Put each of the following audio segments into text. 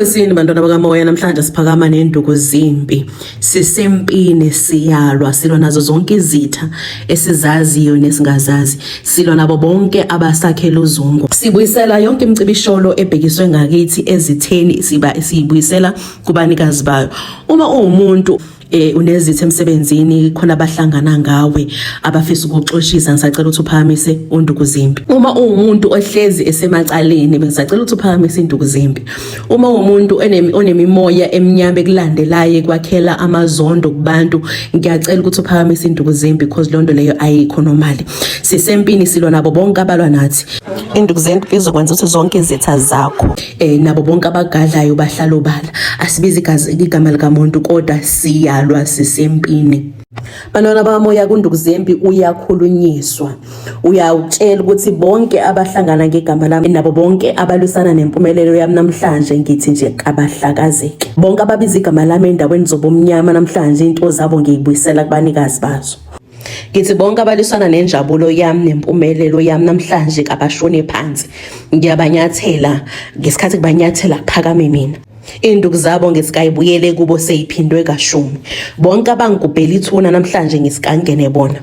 Sini bantwana bakamoya namhlanje siphakama nenduku zimpi sisempini siyalwa silwa nazo zonke izitha esizaziyo nesingazazi silwa nabo bonke abasakhela uzungu sibuyisela yonke imicibisholo ebhekiswe ngakithi ezitheni siba siyibuyisela kubanikazi bayo uma uwumuntu eh unezithe emsebenzini khona abahlangana ngawe abafisa ukuxoshisa ngisacela ukuthi uphakamise unduku zimbi uma uwumuntu ohlezi esemacaleni bengisacela ukuthi uphakamise induku zimbi uma umuntu onemimoya emnyama ekulandelayo kwakhela amazondo kubantu ngiyacela ukuthi uphakamise induku zimbi because lonto leyo ayikho normal sisempini silwa nabo bonke abalwa nathi induku zimbi izokwenza ukuthi zonke izitha zakho eh nabo bonke abagadlayo bahlala obala asibizi igazi igama likamuntu kodwa siyalwa sisempini Bantwana bami uyakunduku zempi uyakhulunyiswa uyawutshela ukuthi bonke abahlangana ngegama lami nabo bonke abalwisana nempumelelo yami namhlanje ngithi nje abahlakazeke bonke ababiza igama lami endaweni zobumnyama namhlanje into zabo ngiyibuyisela kubanikazi bazo Ngithi bonke abaliswana nenjabulo yami nempumelelo yami namhlanje kabashone phansi. Ngiyabanyathela ngesikhathi kubanyathela phakame mina. Induku zabo ngesikayibuyele kubo seyiphindwe kashumi. Bonke abangigubhela ithuna namhlanje ngesikangene bona.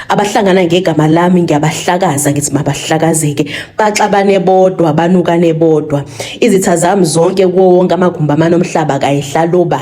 Abahlangana ngegama lami ngiyabahlakaza ngithi mabahlakazeke. Baxabane bodwa banukane bodwa. Izitha zami zonke kuwo wonke amagumbi amanomhlaba kayihlaloba.